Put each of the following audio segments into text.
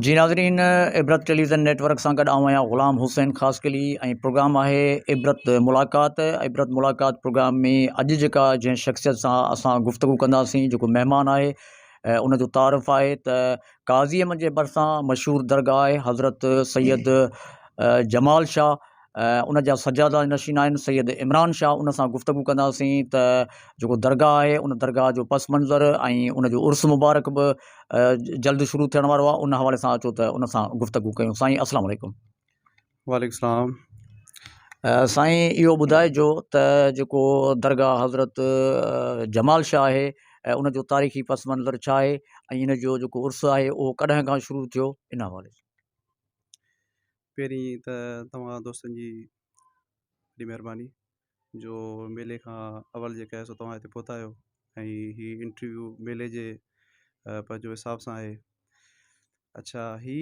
جي ناظرين Ibrat television network سان گڏ آئون آهيان غلام حسين خاص قلي ۽ پروگرام آهي عبرت ملاقات عبرت ملاقات پروگرام ۾ اڄ جيڪا جنهن شخصيت سان اسان گفتگو ڪنداسين جيڪو مهمان آهي ان جو تعارف آهي ته ڪازيم جي ڀرسان مشهور درگاهه آهي حضرت سيد جمال شاهه ان جا سجاده نشين آهن سيد عمران شاهه ان سان گفتگو ڪنداسين ته جيڪو درگاهه آهي ان درگاهه جو پس منظر ۽ ان جو عرس مبارڪ به جلد شروع ٿيڻ وارو آهي ان حوالي سان اچو ته ان سان گفتگو ڪيون سائين السلام عليڪم وعليڪم السلام سائين اهو ٻڌائجو ته جيڪو درگاهه حضرت جمال شاهه آهي ۽ ان جو تاريخي پس منظر ڇا آهي ۽ ان جو جيڪو عرس آهي اهو ڪڏهن کان شروع ٿيو ان حوالي سان. پهرين ته توهان دوستن جي وڏي مهرباني جو ميلي کان اول جيڪا آهي سو توهان هتي پهتا آهيو ۽ هي انٽرويو ميلي جي پنهنجو حساب سان آهي اڇا هي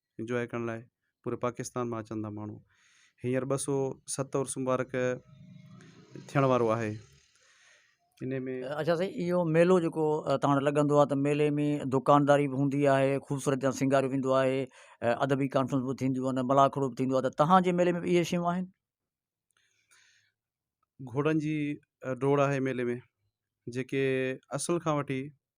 انجوائي ڪرڻ لاء پوري پاڪستان مان اچن ٿا ماڻهو هينئر ٻه سو ست عرس مبارڪ ٿيڻ وارو آهي ان ۾ اچا سائين اهو ميلو جيڪو تان وٽ لڳندو آهي ته ميلي ۾ دڪانداري به هوندي آهي خوبصورت جان سينگار به ويندو آهي ادبي ڪانفرنس به ٿينديون آهن ملاکڙو به ٿيندو آهي ته تهانجي ميلي ۾ به اهي شيون آهن گهوڙن جي ڊوڙ آهي ميلي ۾ جيڪي اصل کان وٺي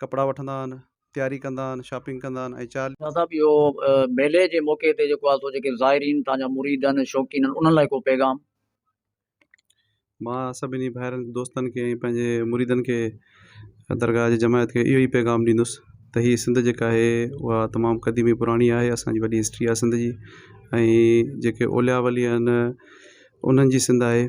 ڪپڙا وٺندا آهن، تياري ڪندا آهن، شاپنگ ڪندا آهن ۽ چاليهه. شاهه صاحب اهو ميلي جي موقعي تي جيڪو آهي سو جيڪي زائرين توهان جا مريد آهن شوقين آهن انهن لاء ڪو پيغام. مان سڀني ڀائرن دوستن کي ۽ پنهنجي مريدن کي درگاهه جي جماعت کي اهو ئي پيغام ڏيندس ته هي سنڌ جيڪا آهي اها تمام قديم ۽ پراڻي آهي اسان جي وڏي هسٽري آهي سنڌ جي ۽ جيڪي اولياء ولي آهن انهن جي سنڌ آهي.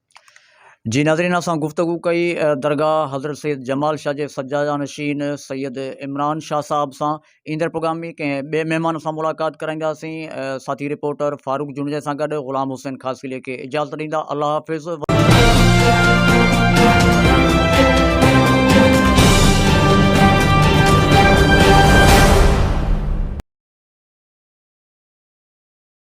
جي ناظرين اسان گفتگو ڪئي درگاهه حضرت سيد جمال شاهه جي سجاده نشين سيد عمران شاهه صاحب سان ايندڙ پروگرام ۾ ڪنهن ٻئي مهمان سان ملاقات ڪرائينداسين ساٿي رپورٽر فاروق جوڻيجا سان گڏ غلام حسين خاصخيلي کي اجازت ڏيندا الله حافظ